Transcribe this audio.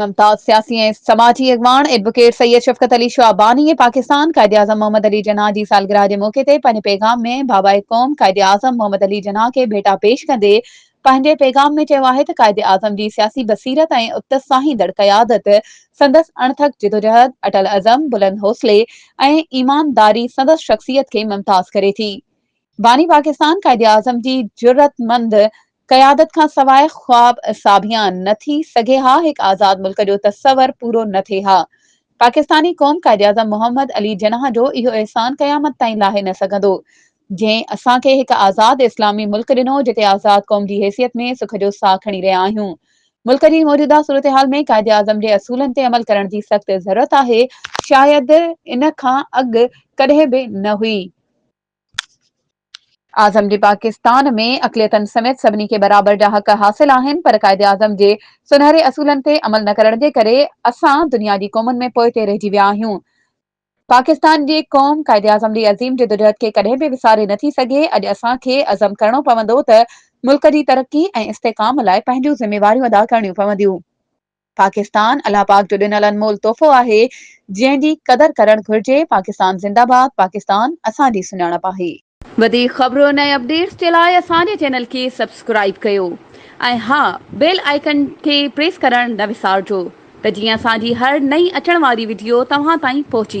ممتاز سياسي ۽ سماجي اڳواڻ ايڊووڪيٽ سيد شفقت علي شعباني پاڪستان قائداعظم محمد علي جناح جي سالگرهه جي موقعي تي پنهنجي پيغام ۾ بابائي قوم قائداعظم محمد علي جناح کي ڀيٽا پيش ڪندي پنهنجي پيغام ۾ چيو آهي ته قائداعظم جي سياسي بصيرت ۽ اتساهيندڙ قيادت، سندس اڻٿڪ جدوجهد، اٽل عزم، بلند حوصلي ۽ ايمانداري سندس شخصيت کي ممتاز ڪري ٿي. باني پاڪستان قائداعظم جي جرئتمند قيادت کان سواء خواب ساڀيان نه ٿي سگهي ها، هڪ آزاد ملڪ جو تصور پورو نه ٿئي ها. پاڪستاني قوم قائداعظم محمد علي جناح جو اهو احسان قيامت تائين لاهي نه سگهندو، جنهن اسان کي هڪ آزاد اسلامي ملڪ ڏنو، جتي آزاد قوم جي حيثيت ۾ سک جو ساهه کڻي رهيا آهيون. ملڪ جي موجوده صورتحال ۾ قائداعظم جي اصولن تي عمل ڪرڻ جي سخت ضرورت آهي، شايد ان کان اڳ ڪڏهن به نه هئي. اعظم جي پاڪستان ۾ اقليتن سميت سڀني کي برابر جا حق حاصل آهن پر قائداعظم جي سونهري اصولن تي عمل نه ڪرڻ جي ڪري اسان دنيا جي قومن ۾ پوئتي رهجي ويا آهيون. پاڪستان جي قوم قائداعظم جي عظيم جدوجهد کي ڪڏهن به وساري نه ٿي سگهي، اڄ اسان کي عزم ڪرڻو پوندو ته ملڪ جي ترقي ۽ استحڪام لاء پنهنجون ذميواريون ادا ڪرڻيون پونديون. پاڪستان الله پاڪ جو ڏنل انمول تحفو آهي جنهن جي قدر ڪرڻ گهرجي پاڪستان زنده باد پاڪستان اسان جي سڃاڻپ آهي. وڌيڪ خبرون ۽ اپڊيٽس جي لاء اسان جي چينل کي سبسڪرائيب ڪيو ۽ ها بيل آئيڪن کي پريس ڪرڻ نه وسارجو ته جيئن اسان جي هر نئين اچڻ واري وڊيو توهان تائين پهچي